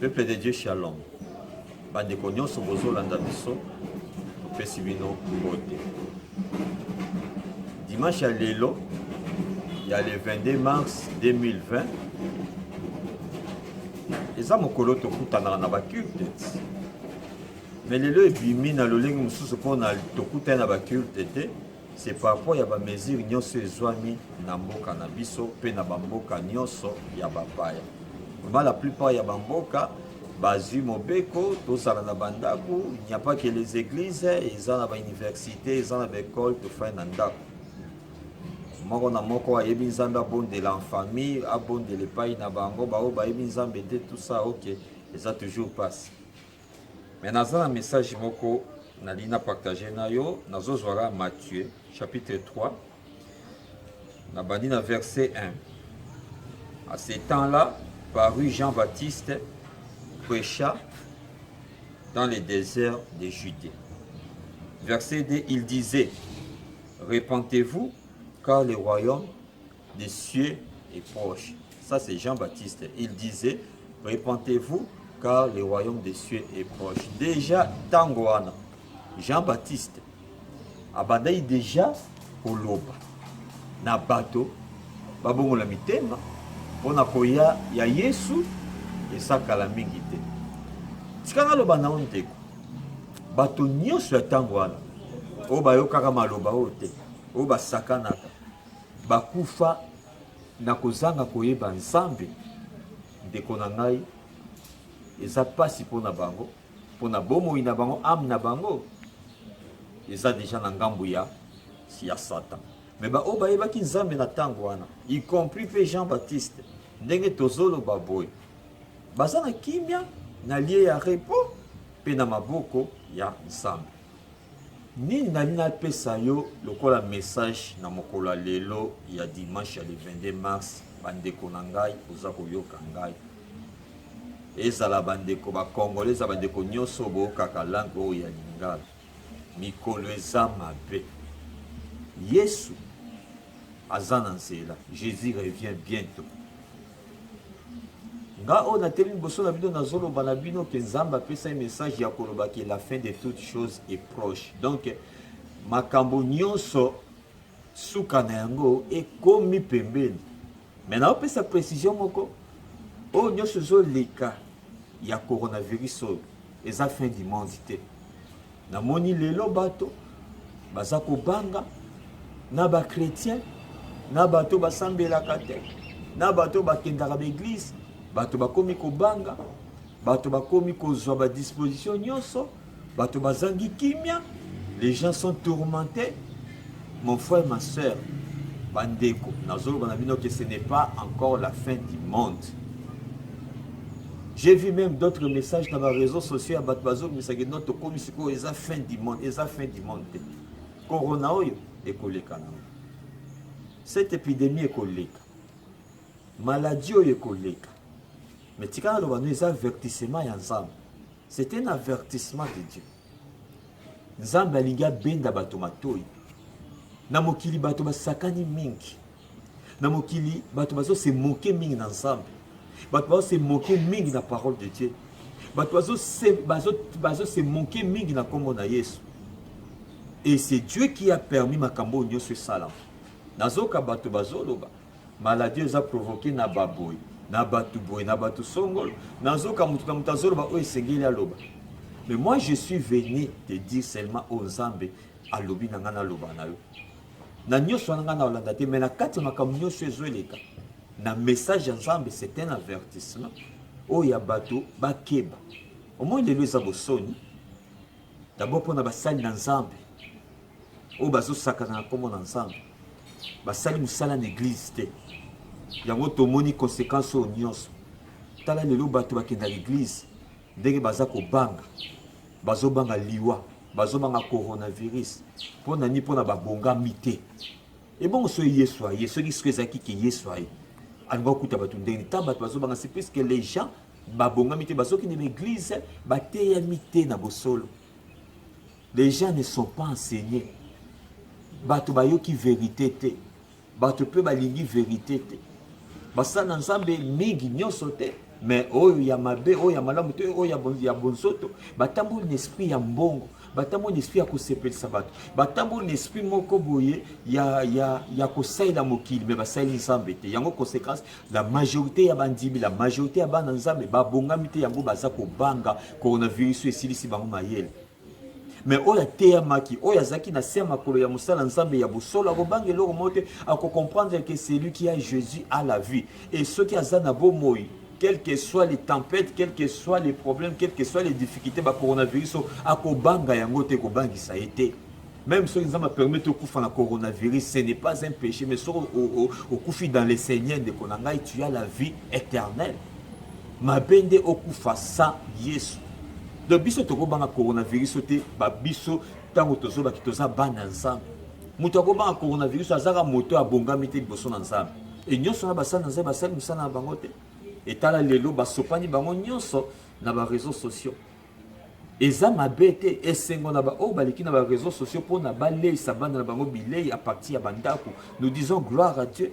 Peuple de Dieu Shalom. Bandeko nyonso bozolanda biso topesi bino mbote. Dimanche ya lelo ya le 22 mars 2020 eza mokolo tokutanaka na baculte me lelo ebimi na lolenge mosusu mpona tokutani na baculte te C'est par rapport ya ba mesures nyonso ezwami na mboka na biso mpe na bamboka nyonso ya bapaya. Vraiment la plupart ya bamboka bazwi mobeko tozala na bandako, il n'y a pas que les églises, eza na ba université, eza na ba école tofai na ndako. moko na moko ayebi nzambe abondela en famille abondela epai na bango baoyo bayebi nzambe te tout ça ok eza toujours passe Mais naza na message moko nalingi na partage na yo nazozwaka Matthieu chapitre 3 nabandi na verset 1 à ce temps-là parut Jean-Baptiste prêcha dans les déserts de Judée verset 2 il disait repentez-vous car le royaume des cieux est proche. Ça, c'est Jean-Baptiste. Il disait, repentez-vous, car le royaume des cieux est proche. Déjà, Tangoana, Jean-Baptiste, abandai déjà koloba na bato babongola mitema mpo na koya ya yesu esakala mingi te tika naloba nao ndeko bato nyonso ya ntango wana oyo bayokaka maloba oyo te oyo basakanaka Bakufa na kozanga koyeba Nzambe, ndeko na ngai, eza pasi mpo na bango, mpo na bomoi na bango, ame na bango eza deja na ngambo ya ya Satan. Mais baoyo bayebaki Nzambe na ntango wana, y compris mpe Jean Baptiste, ndenge tozoloba boye, baza na kimia na lie ya repos mpe na maboko ya Nzambe. Nini nalingi napesa yo lokola message na mokolo ya lelo ya dimanche ya le 22 mars, bandeko na ngai oza koyoka ngai, ezala bandeko ba congolais, ezala bandeko nyonso boyokaka langue oyo ya lingala, mikolo eza mabe, Yesu aza na nzela, Jesus revient bientot. Nga oyo na teli liboso na bino nazo loba na bino ke Nzambe apesa ye message ya koloba ke la fin de toute chose est proche. Donc makambo nyonso suka na yango ekomi pembeni. Mais na opesa precision moko oyo nyonso ezo leka ya coronavirus oyo eza fin du monde te. Namoni lelo bato baza kobanga na ba chrétien na bato basambelaka te na bato bakendaka baeglise bato bakomi kobanga bato bakomi kozwa badisposition nyonso bato bazangi kimia les gens sont tourmentés Mon frère ma sœur ba ndeko nazoloba na bino que ce n'est pas encore la fin du monde j'ai vu même d'autres messages na ba réseaux sociaux ya bato bazobimisa ke note tokomi sikoyo eza fin du monde eza fin du monde te corona oyo ekoleka nango cette épidémie ekoleka maladie oyo ekoleka mais tika naloba no eza avertissement ya nzambe c'est un avertissement de dieu Nzambe alingi abenda bato matoi. Na mokili bato basakani mingi, na mokili bato bazose moke mingi na Nzambe, bato bazose moke mingi na parole de Dieu, bato bazose bazo, bazo moke mingi na nkombo na Yesu. Et c'est Dieu qui a permis makambo oyo nyonso esalama. Nazoka bato bazoloba Maladie oyo eza provoquer na baboye na bato boye na bato songolo nazoka moto na moto azoloba oyo esengeli aloba mais moi je suis venu te dire seulement oyo nzambe alobi na ngai naloba na yo na nyonso wana ngai na olanda te mais na kati ya makambo nyonso ezo eleka na message ya nzambe c'est un avertissement oyo ya bato bakeba omoi lelo eza bosoni dabord mpo na basali na nzambe oyo bazosakana na nkombo na nzambe basali mosala na eglize te yango tomoni konsekanse oyo nyonso tala lelo bato bakendaka eglize ndenge baza kobanga bazobanga liwa bazobanga coronavirus mpo na nini mpo na babongami te ebongo soki yesu aye soki soki ezalaki ke yesu aye alinga kokuta bato ndenge nini ntango bato bazobanga se puiske les gens babongami te bazokende na eglize bateyami te na bosolo Les gens ne sont pas enseignés. Bato bayoki verite te. Bato pe balingi verite te. Basala na Nzambe mingi nyonso te. Mais oyo ya mabe, oyo ya malamu te, oyo ya bonsoto, batamboli na esprit ya mbongo, batamboli na esprit ya kosepelisa bato, batamboli na esprit moko boye ya, ya, ya kosalela mokili, mais basaleli Nzambe te. Yango conséquence, la majorité ya bandimi, la majorité ya bana Nzambe babongami te, yango baza kobanga coronavirus oyo esilisi bango mayele. Mais oyo ateyamaki, oyo azalaki na se ya makolo ya mosala Nzambe ya bosolo, akobanga eloko moko te, akocomprendre que celui qui a Jésus a la vie. Et soki aza na bomoi, quelles que soient les tempêtes, quels que soient les problèmes, quelles que soient les difficultés, ba coronavirus, akobanga yango te, ekobangisa ye te. Meme soki nzambe apermettre okufa na coronavirus ce n'est pas un péché mais soki okufi dans le seigneur ndeko na ngai tu as la vie éternelle mabe nde okufa sa yesu donc biso tokobanga coronavirus oyo te babiso ntango tozobaki toza bana nzambe moto akobanga coronavirus azaka moto oyo abongami te liboso na nzambe e nyonso wana basali na nzambe basali mosala na bango te etala lelo basopani bango nyonso na bareseau sociaux Eza mabe te, esengo na ba oyo baleki na ba reseaux sociaux pona baleisa bana na bango bilei à partir ya ba ndaku. Nous disons gloire à Dieu.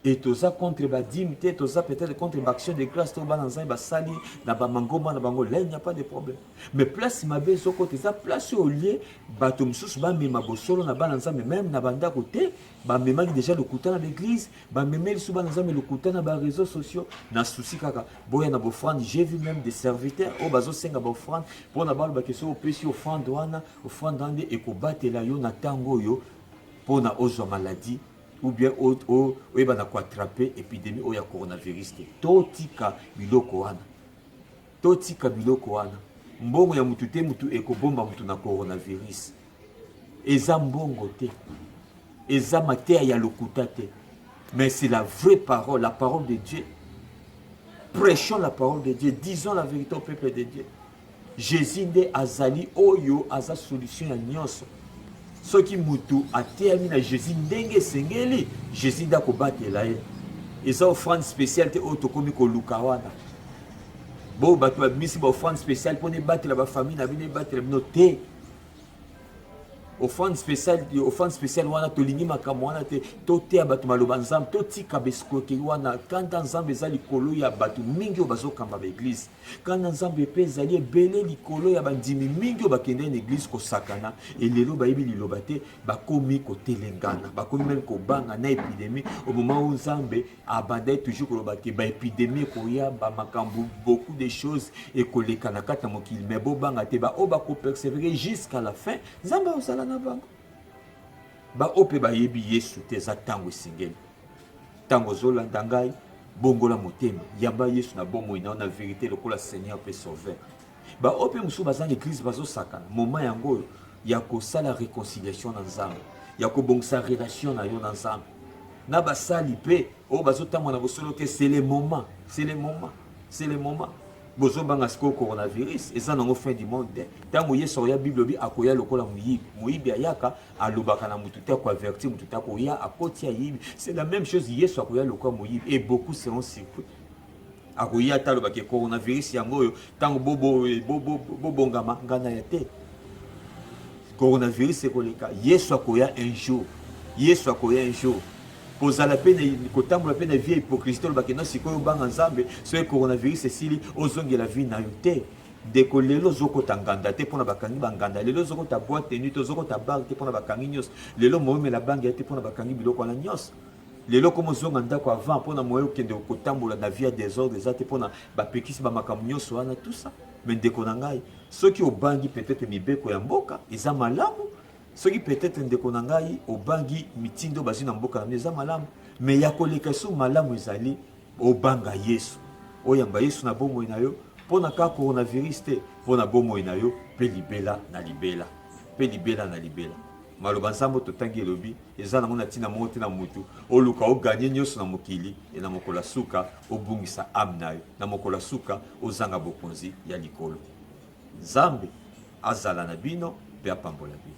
Et toza contre ba dime te, toza peut-être contre ba action de grâce to bana nzambe basali na ba mangomba na bango. Là il n'y a pas de problème. Mais place mabe ezokota eza place au lieu bato mosusu bamema bosolo na bana nzambe meme na ba ndaku te bamemaki deja lokuta na baeglise bamemeli so bana nzambe lokuta na bareseau sociaux na susi kaka boya na bofrande j'ai vu même des serviteurs oyo bazosenga baofrande mpona balobaki soki opesi ofrande wana ofrande wana nde ekobatela yo na ntango oyo mpona ozwa maladie ou bien oyeba na koatrape epidémie oyo ya coronavirus te totika biloko wana totika biloko wana mbongo ya motu te motu ekobomba motu na coronavirus eza mbongo te eza mateya ya lokuta te mais c'est la vraie parole la parole de dieu prêchons la parole de dieu disons la vérité au peuple de dieu jésus nde azali oyo aza solution ya nyonso soki motu ateyami na jésus ndenge esengeli jésus nde akobatela ye eza offrande spéciale te oyo tokomi koluka wana bo bato babimisi ba offrande spéciale mpo nebatela bafamille na bino ebatela bino te offrande spéciale offrande spéciale wana tolingi makambo wana te toteya bato maloba nzambe totika bescroquerie wana kanda nzambe eza likolo ya bato mingi oyo bazokamba baeglize kanda nzambe mpe ezali ebele likolo ya bandimi mingi oyo bakendai na eglize kosakana elelo bayebi liloba te bakomi kotelengana bakomi meme kobanga na epidemi omoma oyo nzambe abandaki toujours koloba ke ba epidemie ekoya ba makambo beaucoup de choses ekoleka na kati ya mokili mais bobanga te baoyo bakopersevere jusqu'à la fin nzambe akozala na bango baoyo mpe bayebi yesu te eza ntango esengeli ntango ozolanda ngai bongola motema yamba yesu na bomoi na yo na verite lokola seigneur mpe sauveur Ba oyo mpe mosusu baza na eglise bazosakana moment yango oyo ya kosala reconciliation na nzambe ya kobongisa relation na yo na nzambe na basali mpe oyo bazotangwa na bosolo te c'est le moment c'est le moment c'est le moment bozobanga sikoyo coronavirus eza nango fin du monde te ntango yesu akoya bible obi akoya lokola moyibi moyibi ayaka alobaka na motu te akoavertir motu te akoya akoti ayibi c'est la même chose yesu akoya lokola moyibi et beaucoup seront surpris akoya ata alobaki coronavirus yango oyo ntango bobongama ngai na ya te coronavirus ekoleka yesu akoya un jour yesu akoya un jour kozala mpe kotambola mpe na vie hypocrisie tolobaki no sikoyo obanga nzambe soki coronavirus esili ozongela vie na yo te ndeko lelo ozokota nganda te mpona bakangi banganda lelo ozokota boite nuit ozokota bar te mpona bakangi nyonso lelo moyomela bangi ya te mpona bakangi biloko wana nyonso Lelo comme ozonga ndako avant pona moyen okende kotambola na vie ya desordre eza te pona bapekisi bamakambo nyonso wana tout ça mais ndeko na ngai soki obangi peut-être mibeko ya mboka eza malamu soki peut-être ndeko na ngai obangi mitindo bazwi na mboka na bino eza malamu mais ya koleka esu malamu ezali obanga yesu oyamba yesu na bomoi na yo mpo na kaka coronavirus te mpo na bomoi na yo mpe libela na libela mpe libela na libela maloba nzambe totangi elobi Eza nango na tina moko te na mutu oluka o gagne nioso na mokili et na mokolo ya suka obungisa ame nayo na mokolo ya suka ozanga bokonzi ya likolo. Nzambe azala na bino pe apambola bino.